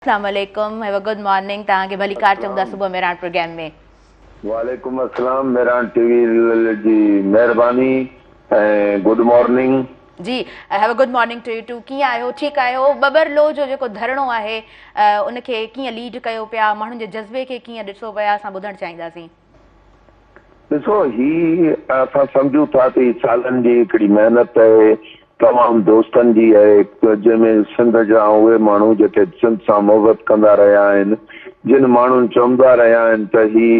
اسلام عليڪم هيو گڊ مارننگ توهان کي ڀلي ڪار چئون ٿا صبح ميراڻ پروگرام ۾. وعليڪم السلام ميراڻ ٽي وي جي مهرباني ۽ گڊ مارننگ. جي هيو good morning to you too ڪيئن آهيو ٺيڪ آهيو ٻٻر لو جو جيڪو ڌرڻو آهي ان کي ڪيئن ليڊ ڪيو پيا ماڻهن جي جذبي کي ڪيئن ڏٺو پيا اسان ٻڌڻ چاهينداسين. ڏسو هي اسان سمجهون ٿا ته هي سالن جي هڪڙي محنت آهي تمام دوستن جي آهي جنهن ۾ سنڌ جا اهي ماڻهو جيڪي سنڌ سان محبت ڪندا رهيا آهن جن ماڻهن چوندا رهيا آهن ته هي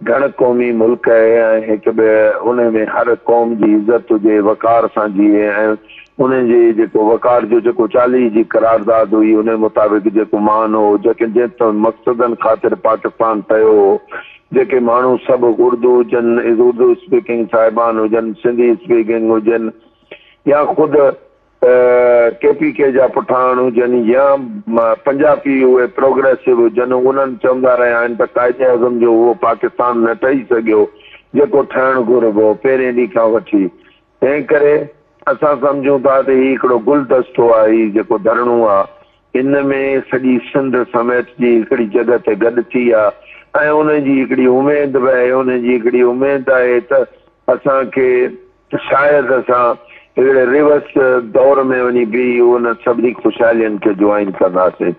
گهڻ قومي ملڪ آهي ۽ هڪ ٻئي ان ۾ هر قوم جي عزت هجي وقار سان جيئي ۽ انهن جي جيڪو وقار جو جيڪو چاليهي جي قرارداد هئي، انهي مطابق جيڪو مان هو، جيڪي جنهن تنهن مقصدن خاطر پاڪستان ٺهيو هو، جيڪي ماڻهو سڀ اردو هجن، اردو اسپيڪنگ صاحبان هجن، سنڌي اسپيڪنگ هجن يا خود ڪي پي ڪي جا پٺاڻ هجن يا پنجاپي اهي پروگريسو هجن، انهن چوندا رهيا آهن ته قائد اعظم جو اهو پاڪستان نه ٺهي سگهيو، جيڪو ٺهڻ گهربو هو، پهرين ڏينهن کان وٺي. تنهن ڪري اسان سمجهون ٿا ته هي هڪڙو گلدستو آهي، هي جيڪو ڌرڻو آ، هن ۾ سڄي سنڌ سميٽجي هڪڙي جڳهه تي گڏ ٿي آ ۽ انهن جي هڪڙي اميد به آهي، انهن جي هڪڙي اميد آهي ته اسان کي شايد اسان هڪڙي ريورس دور ۾ وڃي بيهي ان سڀني خوشحالين کي جوائن ڪنداسين.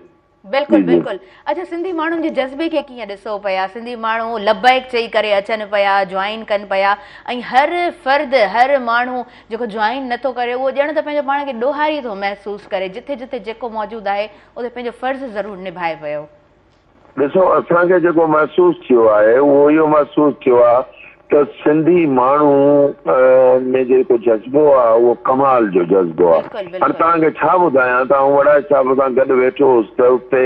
بلڪل بلڪل اچا سنڌي ماڻهن جي جذبي کي ڪيئن ڏسو پيا سنڌي ماڻهو لبيڪ چئي ڪري اچن پيا جوائن ڪن پيا ۽ هر فرد هر ماڻهو جيڪو جوائن نٿو ڪري اهو ڄڻ ته پنهنجو پاڻ کي ڏوهاري ٿو محسوس ڪري جتي جتي جيڪو موجود آهي اتي پنهنجو فرض ضرور نڀائي پيو ڏسو اسان کي جيڪو محسوس ٿيو آهي اهو اهو محسوس ٿيو آهي ته سنڌي ماڻهو ۾ جيڪو جذبو آ اهو ڪمال جو جذبو آ. هاڻي توهان کي ڇا ٻڌايان ته آئون وڙائي صاحب سان گڏ ويٺو هوس ته اتي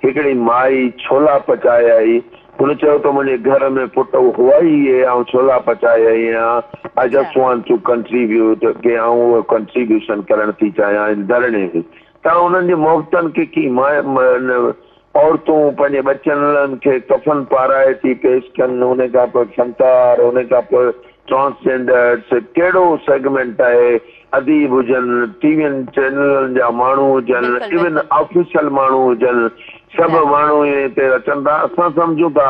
هڪڙي مائي ڇولا پچايائي. هن چيو ته منهنجي گهر ۾ پٽ هئائي اهي آئون ڇولا پچايائي هان. I just want to contribute ڪي آئون اهو ڪنٽريبيوشن ڪرڻ ٿي چاهيان ان ڌرڻي ۾. ته آئون انهن جي محبتن کي ڪي ماء عورتون پنهنجي ٻچن لن کي ڪفن پارائي ٿي پيش ڪن انهي کان پوء فنڪار انهي کان پوء ٽرانسجينڊرز ڪهڙو سيگمينٽ آهي اديب هجن ٽي وين چينلن جا ماڻهو هجن بلڪل ايون بلڪل آفيسل ماڻهو هجن سڀ جا ماڻهو هي هتي اچن ٿا اسان سمجهون ٿا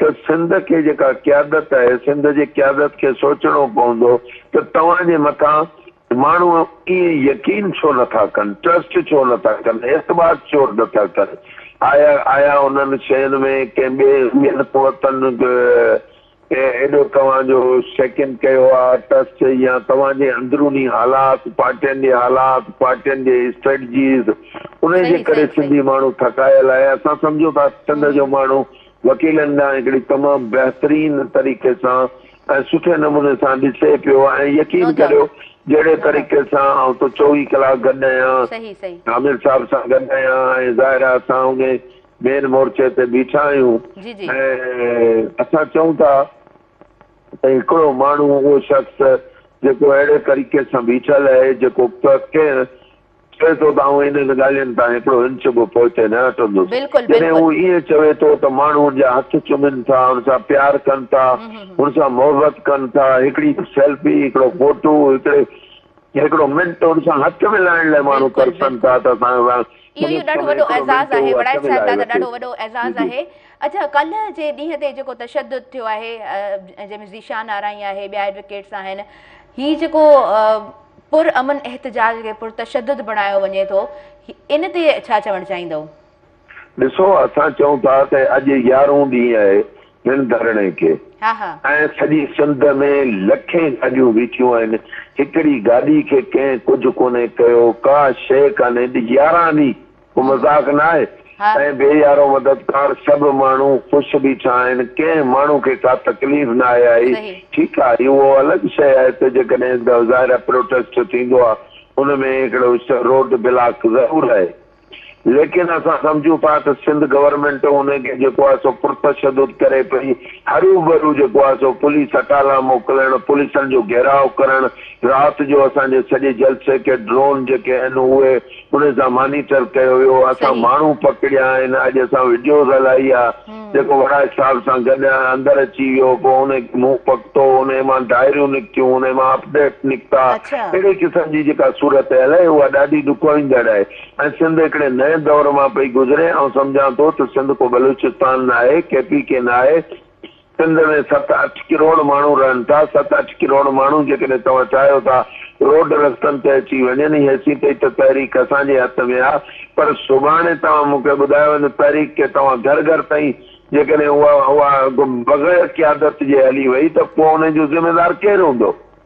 ته سنڌ کي جيڪا قيادت آهي سنڌ جي قيادت کي سوچڻو پوندو ته توهان جي مٿان ماڻهو ائين يقين ڇو نٿا ڪن، ٽرسٽ ڇو نٿا ڪن، اعتماد ڇو نٿا ڪن، آيا آيا انهن شين ۾ ڪنهن ٻين قوتن ايڏو توهان جو شيڪن ڪيو آ، ٽرسٽ يا توهان جي اندروني حالات، پارٽين جي حالات، پارٽين جي اسٽريٽجيز، انهي جي ڪري سنڌي ماڻهو ٿڪايل آهي، اسان سمجهون ٿا سنڌ جو ماڻهو وڪيلن ڏانهن هڪڙي تمام بهترين طريقي سان. ۽ سٺي نموني سان ڏسي پيو ۽ يقين ڪريو جهڙي طريقي سان آئون تو چوويهه ڪلاڪ گڏ آهيان عامر صاحب سان گڏ آهيان ۽ ظاهر آهي اسان انهي مين مورچي تي بيٺا آهيون ۽ اسان چئون ٿا ته هڪڙو ماڻهو اهو شخص جيڪو اهڙي طريقي سان بيٺل اهي جيڪو ڪنهن چوي ٿو ته آئون انهن ڳالهين تان هڪڙو انچ به پوئتي نه هٽندس. جڏهن هو ائين چوي ٿو ته ماڻهو هن جا هٿ چمن ٿا، هن سان پيار ڪن ٿا، هن سان محبت ڪن ٿا، هڪڙي سيلفي، هڪڙو فوٽو، هڪڙي هڪڙو منٽ هن سان هٿ ملائڻ لاء ماڻهو ترسن ٿا ته اسان سان سندس سمي هڪڙو منٽ هو هٿ ملائي وٺي. جي جي. اڇا ڪلهه جي ڏينهن تي جيڪو تشدد ٿيو آهي جنهن ۾ ذيشان آرائين آهي ٻيا ايڊوڪيٽس آهن هي جيڪو پر امن احتجاج کي پر تشدد بڻايو وڃي ٿو ان تي ڇا چوڻ چاهيندؤ؟ ڏسو اسان چئون ٿا ته اڄ يارهون ڏينهن آهي هن ڌرڻي کي ۽ سڄي سنڌ ۾ لکين گاڏيون بيٺيون آهن هڪڙي گاڏي کي ڪنهن ڪجهه ڪونهي ڪيو ڪا شيء ڪانهي يارهن ڏينهن ڪو مذاق ناهي ۽ بي يارو مددگار سڀ ماڻهو خوش بيٺا آهن ڪنهن ماڻهو کي ڪا تڪليف ناهي آئي ٺيڪ آ اهو الڳ شئي آهي ته جيڪڏهن ظاهر آهي پروٽيسٽ ٿيندو آ ان ۾ هڪڙو روڊ بلاڪ ضرور رهي ليڪن اسان سمجهون ٿا ته سنڌ گورنمينٽ ان کي جيڪو آهي سو پرتشدد ڪري پئي هروڀرو جيڪو آهي سو پوليس اٽالا موڪلڻ پوليسن جو گهيراء ڪرڻ رات جو اسان جي سڄي جلسي کي ڊرون جيڪي آهن اهي ان سان مانيٽر ڪيو ويو اسان ماڻهو پڪڙيا آهن اڄ اسان وڊيوز هلائي آ جيڪو وڙائچ صاحب سان گڏ اندر اچي ويو پو ان کي منهن پڪتو ان مان ڊائريون نڪتيون ان مان اپڊيٽ نڪتا اهڙي قسم جي جيڪا صورتحال آهي اها ڏاڍي ڏکوئيندڙ آهي ۽ سنڌ هڪڙي نئين دور مان پئي گذري آئون سمجهان ٿو ته سنڌ ڪو بلوچستان ناهي ڪي پي ڪي ناهي سنڌ ۾ ست اٺ ڪروڙ ماڻهو رهن ٿا، ست اٺ ڪروڙ ماڻهو جيڪڏهن توهان چاهيو ٿا روڊ رستن تي اچي وڃن هي سي پئي ته تحريڪ اسان جي هٿ ۾ آ پر سڀاڻي توهان مون کي ٻڌايو ان تحريڪ کي توهان گهر گهر تائين جيڪڏهن اها اها بغير قيادت جي هلي وئي ته پوء ان جو ذميدار ڪير هوندو؟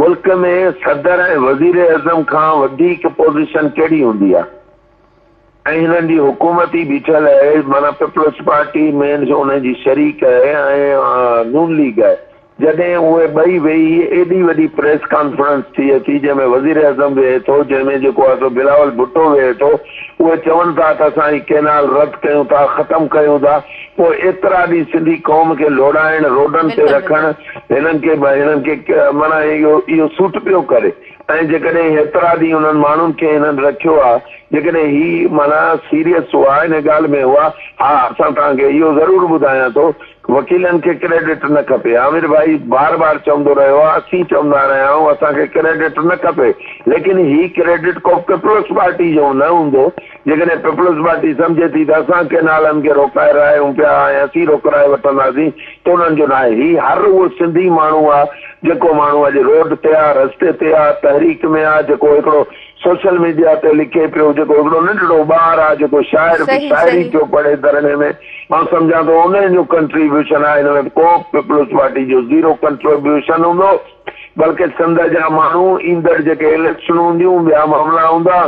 ملڪ ۾ صدر ۽ وزيراعظم کان وڌيڪ پوزيشن ڪهڙي هوندي آهي ۽ هنن جي حڪومت ئي بيٺل آهي معنيٰ پيپلز پارٽي مينز انهن جي شريڪ آهي ۽ نون ليگ آهي جڏهن اهي ٻئي ويهي ايڏي وڏي پريس ڪانفرنس ٿئي ٿي جنهن ۾ وزيراعظم ويهي ٿو جنهن ۾ جيڪو آهي سو بلاول ڀٽو ويهي ٿو اهي چون ٿا ته اسان هي ڪينال رد ڪيون ٿا ختم ڪيون ٿا پوء ايترا ڏينهن سنڌي قوم کي لوڙائڻ، روڊن تي رکڻ، هنن کي هنن کي معنيٰ اهو اهو سوٽ پيو ڪري ۽ جيڪڏهن هيترا ڏينهن انهن ماڻهن کي هنن رکيو آ، جيڪڏهن هي معنيٰ سيريس هئا ان ڳالهه ۾ هئا، ها اسان توهان کي اهو ضرور ٻڌايان ٿو وڪيلن کي ڪريڊٽ نه کپي عامر ڀائي بار بار چوندو رهيو آ اسين چوندا رهيا آهيون اسان کي ڪريڊٽ نه کپي ليڪن هي ڪريڊٽ ڪو پيپلز پارٽي جو نه هوندو. جيڪڏهن پيپلز پارٽي سمجهي ٿي ته اسان ڪن آلن کي روڪائي رهايون پيا ۽ اسين روڪرائي وٺنداسين ته انهن جو ناهي. هي هر اهو سنڌي ماڻهو آ جيڪو ماڻهو اڄ روڊ تي آ، رستي تي آ، تحريڪ ۾ آ، جيڪو هڪڙو سوشل ميڊيا تي لکي پيو، جيڪو هڪڙو ننڍڙو ٻار آ، جيڪو شاعر به شاعري پيو پڙهي ڌرڻي ۾. آئون سمجهان ٿو انهن جو ڪنٽريبيوشن آ، هن ۾ ڪو به پيپلز پارٽي جو زيرو ڪنٽريبيوشن هوندو. بلڪه سنڌ جا ماڻهو ايندڙ جيڪي اليڪشنون هونديون، ٻيا معاملا هوندا،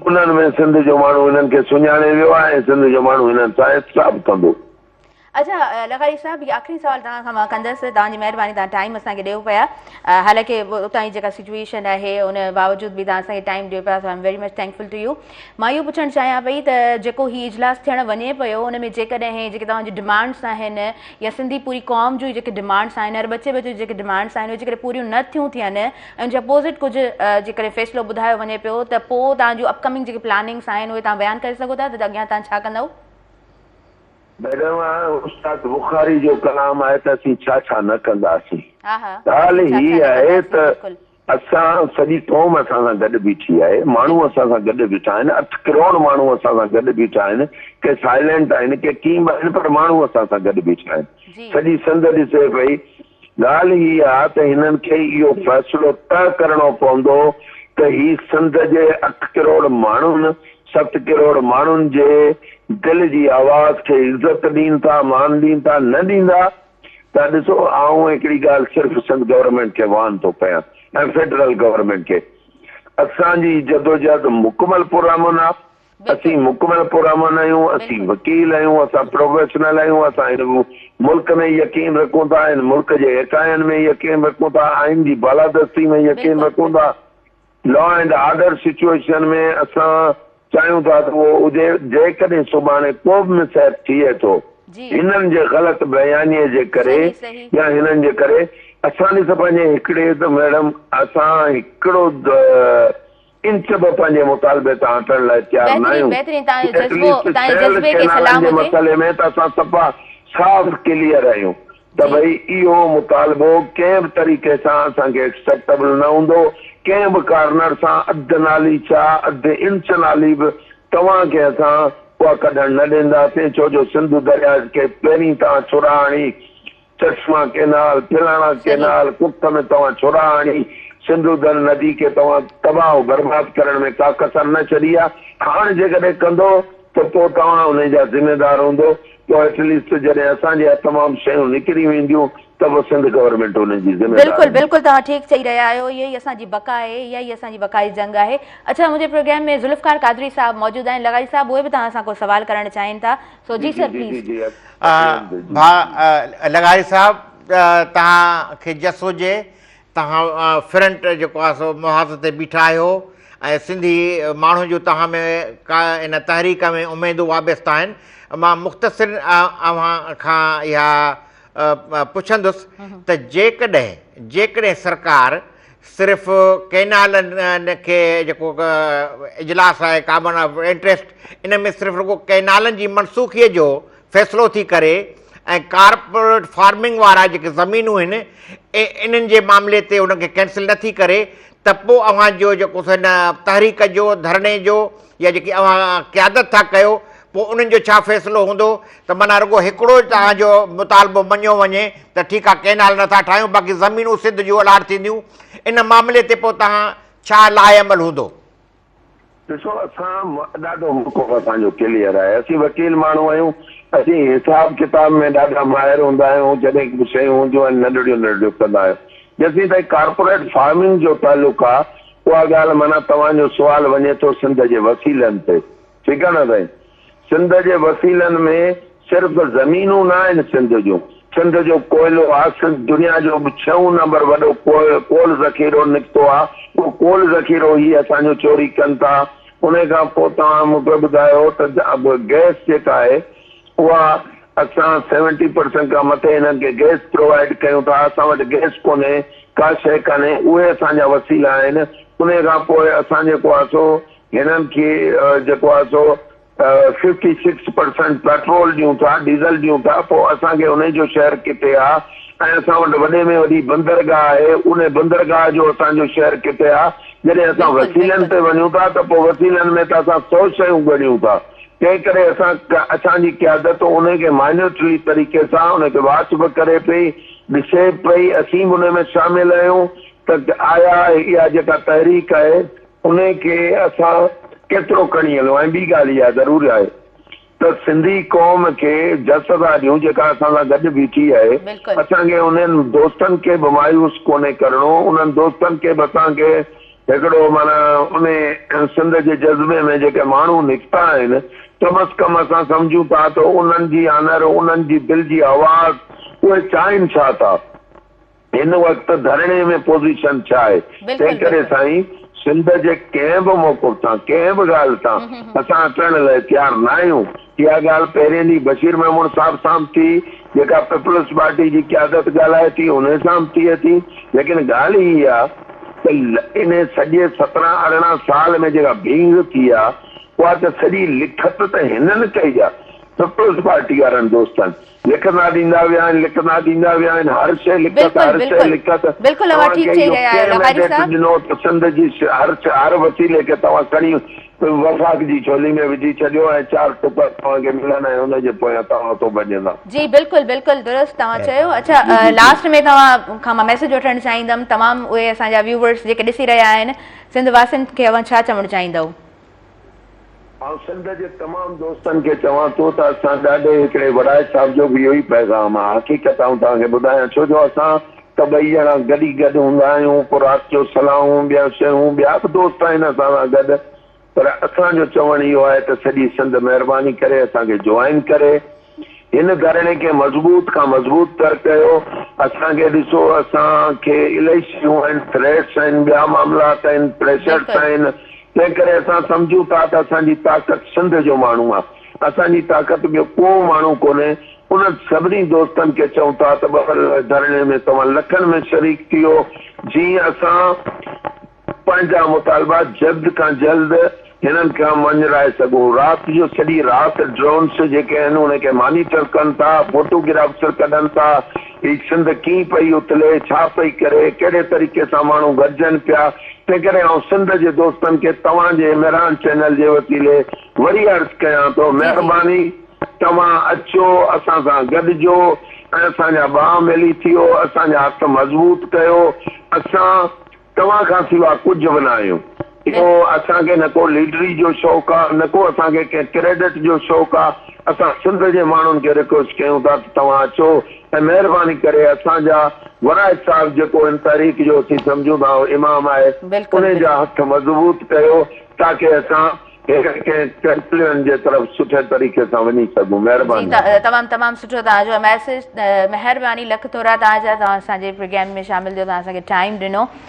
انهن ۾ سنڌ جو ماڻهو هنن کي سڃاڻي ويو آهي ۽ سنڌ جو ماڻهو هنن سان احتساب ڪندو. اچا لغاري صاحب هي آخري سوال توهان کان مان ڪندس توهان جي مهرباني توهان ٽائيم اسان کي ڏيو پيا حالانڪه اتان جي جيڪا سچويشن آهي ان باوجود به توهان اسان کي ٽائيم ڏيو پيا so I am very much thankful to you مان اهو پڇڻ چاهيان پئي ته جيڪو هي اجلاس ٿيڻ وڃي پيو ان ۾ جيڪڏهن جيڪي توهان جي ڊمانڊس آهن يا سنڌي پوري قوم جون جيڪي ڊمانڊس آهن هر ٻچي ٻچي جيڪي ڊمانڊس آهن اهي جيڪڏهن پوريون نه ٿيون ٿين ۽ ان جي اپوزٽ ڪجهه جيڪڏهن فيصلو ٻڌايو وڃي پيو ته پوء توهان جون اپڪمنگ جيڪي پلاننگس آهن اهي توهان بيان ڪري سگهو ٿا ته اڳيان توهان ڇا ڪندؤ؟ ميڊم استاد بخاري جو ڪلام آهي ته اسين ڇا ڇا نه ڪنداسين ڳالهه هي آهي ته اسان سڄي قوم اسان سان گڏ بيٺي آهي، ماڻهو اسان سان گڏ بيٺا آهن، اٺ ڪروڙ ماڻهو اسان سان گڏ بيٺا آهن، ڪي سائلينٽ آهن ڪي ڪيئن به آهن پر ماڻهو اسان سان گڏ بيٺا آهن، سڄي سنڌ ڏسي پئي، ڳالهه هي آ ته هنن کي اهو فيصلو طئه ڪرڻو پوندو ته هي سنڌ جي اٺ ڪروڙ ماڻهن ست ڪروڙ ماڻهن جي دل جي آواز کي عزت ڏين ٿا مان ڏين ٿا نه ڏيندا، ته ڏسو آئون هڪڙي ڳالهه صرف سنڌ گورنمينٽ کي واهن ٿو ڪيان ۽ فيڊرل گورنمينٽ کي اسان جي جدوجهد مڪمل پرامن آ اسين مڪمل پرامن آهيون اسين وڪيل آهيون اسان پروفيشنل آهيون اسان هن ملڪ ۾ يقين رکون ٿا هن ملڪ جي ايڪائين ۾ يقين رکون ٿا آئين جي بالادستي ۾ يقين رکون ٿا لا اينڊ آرڊر سچوئيشن ۾ اسان چاهيون ٿا ته اهو هجي، جيڪڏهن سڀاڻي ڪو به مس ايپ ٿئي ٿو هنن جي غلط بيانيي جي ڪري يا هنن جي ڪري اسان ڏس پنهنجي هڪڙي ته ميڊم اسان هڪڙو انچ به پنهنجي مطالبي تان هٽڻ لاء تيار ناهيون ڪي ايٽليسٽ سيلڊ ڪينالن جي مسئلي ۾ ته اسان صفا صاف ڪليئر آهيون. ته ڀئي اهو مطالبو ڪنهن به طريقي سان اسان کي ايڪسپٽبل نه هوندو، ڪنهن به ڪارنر سان اڌ نالي ڇا اڌ انچ نالي به توهان کي اسان اها ڪڍڻ نه ڏينداسين ڇو جو سنڌو درياء کي پهرين توهان ڇورا هڻي چشما ڪينال، ڦلاڻا صحيح. ڪينال، ڪک ۾ توهان ڇورا هڻي سنڌو در ندي کي توهان تباهه و برباد ڪرڻ ۾ ڪا ڪسر نه ڇڏي آهي، هاڻ جيڪڏهن ڪندو ته پوء توهان انهي جا ذميدار هوندو. پوء ايٽ ليسٽ جڏهن اسان جي اهي تمام شيون نڪري وينديون ته به سنڌ گورنمينٽ انهن جي ذميوار هوندي. بلڪل بلڪل توهان ٺيڪ چئي رهيا آهيو اهي ئي اسان جي بقا آهي اها ئي اسان جي بقا جي جنگ آهي اڇا منهنجي پروگرام ۾ ذوالفقار قادري صاحب موجود آهن لغاري صاحب اهي به توهان سان ڪو سوال ڪرڻ چاهين ٿا سو جي سر پليز. ڀاء لغاري صاحب توهان کي جس هجي توهان فرنٽ جيڪو آهي سو محاذ تي بيٺا آهيو ۽ سنڌي ماڻهو جو توهان ۾ ڪا ان تحريڪ ۾ اميدون وابسته آهن مان مختصر اوهان کان اها پڇندس ته جيڪڏهن جيڪڏهن سرڪار صرف ڪينالن کي جيڪو اجلاس آهي ڪابن آف انٽرسٽ ان ۾ صرف رڳو ڪينالن جي منسوخيء جو فيصلو ٿي ڪري ۽ ڪارپوريٽ فارمنگ وارا جيڪي زمينون آهن انهن جي معاملي تي ان کي ڪينسل نه ٿي ڪري ته پوء اوهان جو جيڪو سو هن تحريڪ جو ڌرڻي جو يا جيڪي اوهان قيادت ٿا ڪيو پوء انهن جو ڇا فيصلو هوندو ته مانا رڳو هڪڙو توهان جو مطالبو مڃيو وڃي ته ٺيڪ آهي ڪينال نٿا ٺاهيون باقي زمينون سنڌ جون الاٽ ٿينديون ان معاملي تي پوء توهان ڇا لاهي عمل هوندو ڏسو اسان ڏاڍو موقف اسان جو ڪليئر آهي اسين وڪيل ماڻهو آهيون اسين حساب ڪتاب ۾ ڏاڍا ماهر هوندا آهيون جڏهن به شيون هونديون آهن ننڍڙيون ننڍڙيون ڪندا آهيون جيسين تائين ڪارپوريٽ فارمنگ جو تعلق آهي اها ڳالهه معنيٰ توهان جو سوال وڃي ٿو سنڌ جي وسيلن تي ٺيڪ آهي نه سائين سنڌ جي وسيلن ۾ صرف زمينون نه آهن سنڌ جون، سنڌ جو ڪوئلو آ، سنڌ دنيا جو ڇهون نمبر وڏو ڪول ذخيرو نڪتو آ، اهو ڪول ذخيرو هي اسان جو چوري ڪن ٿا، انهي کان پوء توهان مون کي ٻڌايو ته گئس جيڪا آهي اها اسان سيونٽي پرسنٽ کان مٿي هنن کي گئس پرووائيڊ ڪيون ٿا، اسان وٽ گئس ڪونهي، ڪا شيء ڪانهي، اهي اسان جا وسيلا آهن، انهي کان پوء اسان جيڪو آ سو. هنن کي جيڪو آهي سو ففٽي سڪس پرسنٽ پيٽرول ڏيون ٿا ڊيزل ڏيون ٿا پوء اسان کي انهن جو شهر ڪٿي آ ۽ اسان وٽ وڏي ۾ وڏي بندرگاهه آهي ان بندرگاهه جو اسان جو شهر ڪٿي آ جڏهن اسان وسيلن تي وڃون ٿا ته پوء وسيلن ۾ ته اسان سو شيون ڳڙيون ٿا تنهن ڪري اسان اسان جي قيادت انهي کي مائنيوٽلي طريقي سان انهي کي واچ به ڪري پئي ڏسي پئي اسين به انهي ۾ شامل آهيون ته آيا اها جيڪا تحريڪ آهي انهيء کي اسان ڪيترو کڻي هلون ۽ ٻي ڳالهه اها ضرور آهي ته سنڌي قوم کي جس ٿا ڏيون جيڪا اسان سان گڏ بيٺي آهي. بلڪل. اسان کي انهن دوستن کي به مايوس ڪونهي ڪرڻو، انهن دوستن کي به اسان کي هڪڙو معنيٰ انهي سنڌ جي جذبي ۾ جيڪي ماڻهو نڪتا آهن ڪم از ڪم اسان سمجهون ٿا ته انهن جي آنر، انهن جي دل جي آواز اهي چاهين ڇا ٿا؟ هن وقت ڌرڻي ۾ پوزيشن ڇا آهي؟ بلڪل بلڪل. تنهنڪري سائين سنڌ جي ڪنهن به موقف تان ڪنهن به ڳالهه تان اسان هٽڻ لاء تيار نه آهيون اها ڳالهه پهرين ڏينهن بشير ميمڻ صاحب سان به ٿي جيڪا پيپلز پارٽي جي قيادت ڳالهائي ٿي انهي سان به ٿئي ٿي ليڪن ڳالهه هي آهي ته انهي سڄي سترهن ارڙهن سال ۾ جيڪا ڀينگ ٿي آهي اها ته سڄي لکت ته هنن ڪئي آهي پيپلز پارٽي وارن دوستن لکندا ڏيندا ويا آهن لکندا ڏيندا ويا آهن هر شيء لکت هر شيء لکت توهان کي اهو ڪنهن مينڊيٽ ڏنو ته سنڌ جي هر هر وسيلي کي توهان کڻي وفاق جي جھولي ۾ وجھي ڇڏيو ۽ چار ٽڪر توهان کي ملن ۽ ان جي پويان توهان اتو ڀڄندا. جي بلڪل بلڪل درست توهان چيو اڇا لاسٽ ۾ توهان کان مان ميسج وٺڻ چاهيندم تمام اهي اسان جا ويوورس جيڪي ڏسي رهيا آهن سنڌ واسين کي اوهان ڇا چوڻ چاهيندؤ آئون سنڌ جي تمام دوستن کي چوان ٿو ته اسان ڏاڏي هڪڙي وڙائچ صاحب جو به اهو ئي پيغام آ. حقيقت آئون توهان کي ٻڌايان ڇو جو اسان ته ٻئي ڄڻا گڏ ئي گڏ هوندا آهيون پوء رات جو صلاحون ٻيا شيون ٻيا به دوست آهن اسان سان گڏ پر اسان جو چوڻ اهو آهي ته سڄي سنڌ مهرباني ڪري اسان کي جوائن ڪري هن ڌرڻي کي مضبوط کان مضبوط تر ڪيو، اسان کي ڏسو اسان کي الائي شيون آهن، ٿريٽس آهن، ٻيا معاملات آهن، پريشرس بلڪل. آهن، تنهن ڪري اسان سمجهون ٿا ته اسان جي طاقت سنڌ جو ماڻهو آهي، اسان جي طاقت ٻيو ڪو ماڻهو ڪونهي، انهن سڀني دوستن کي چئون ٿا ته ٻه ورهين واري ڌرڻي ۾ توهان لکن ۾ شريڪ ٿيو، جيئن اسان. پنهنجا مطالبا جلد کان جلد هنن کان مڃرائي سگهون. رات جو سڄي رات ڊرونس جيڪي آهن ان کي مانيٽر ڪن ٿا، فوٽو گرافس ڪڍن ٿا، هي سنڌ ڪيئن پئي اٿلي، ڇا پئي ڪري، ڪهڙي طريقي سان ماڻهو گڏجن پيا، تنهن ڪري آئون سنڌ جي دوستن کي توهان جي مهراڻ چينل جي وسيلي وري عرض ڪيان ٿو مهرباني توهان اچو اسان سان گڏجو ۽ اسان جا ٻانهن ملي ٿيو، اسان جا هٿ مضبوط ڪيو، اسان. توهان کان سوا ڪجهه به نه آهيون. اهو اسان کي نه ڪو ليڊري جو شوق آ نه ڪو اسان کي ڪنهن ڪريڊٽ جو شوق آ. اسان سنڌ جي ماڻهن کي رڪويسٽ ڪيون ٿا ته توهان اچو ۽ مهرباني ڪري اسان جا ورائي صاحب جيڪو ان تحريڪ جو اسين سمجهون ٿا اهو امام آهي انهي جا هٿ مضبوط ڪيو تاڪي اسان هيڪ ڪنهن ڪنڪليون جي طرف سٺي طريقي سان وڃي سگهون. مهرباني. جي تمام تمام سٺو توهان جو ميسيج مهرباني لک ٿورا توهان جا توهان اسان جي پروگرام ۾ شامل ٿيو توهان اسان کي ٽائيم ڏنو.